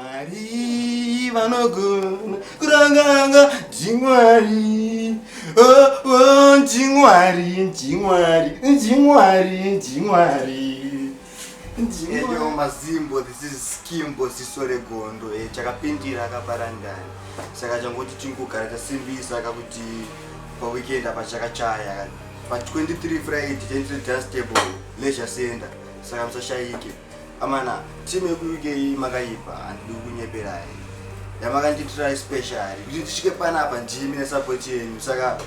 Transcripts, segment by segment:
Mwari vanogona kuranganga ndimwari oh, oh, ndimwari ndimwari ndimwari ndimwari Hello Mazimbo, this is Skimbo Sisore Gondo. Eh, chakapindira akapara ndani. Saka changoti chingogara chasimbisa kakuti pa weekend apa chakachaya. Pa 23 Friday, Gentry Dustable, Leisure Center. Saka musashayike. Amana, team yekuUK iyi makaipa, handidi kukunyeperai. Yamakandiitira especially kuti tisvike panapa ndimi nesupport yenyu saka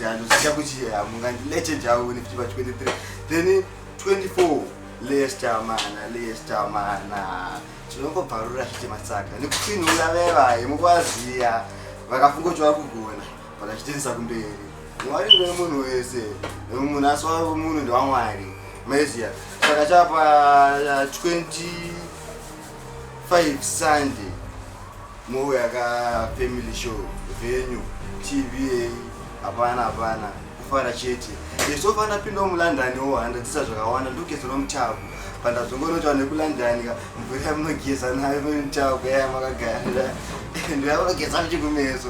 handozita kuti hamungandilete jauni kuti pa 23 then 24 Leicester mana, Leicester mana. Tinongobvarura zvitema saka nekutsinhura vevaye mukwaziya vakafunga kuti vakugona vakachitenisa kumberi mwari ndine munhu wese munhu asi wavo munhu ndewamwari maizia saka chapa 25 sunday mouya ka family show venue tva hapana hapana kufara chete yeso fana pinda mulondon wo handadzisa zvakawanda ndogeza nomutavu pandazongonotawa nekulondon ka mvura yamunogeza nayo nomutavu yaya makagara ndoyamunogeza muchikumeso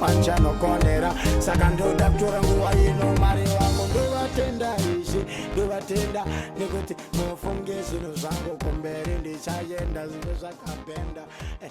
panchanokonera saka ndoda kutora nguva ino mwari wangu ndovatenda izvi ndovatenda nekuti mufunge zvinhu zvangu kumberi ndichayenda zvinhu zvakapenda eh,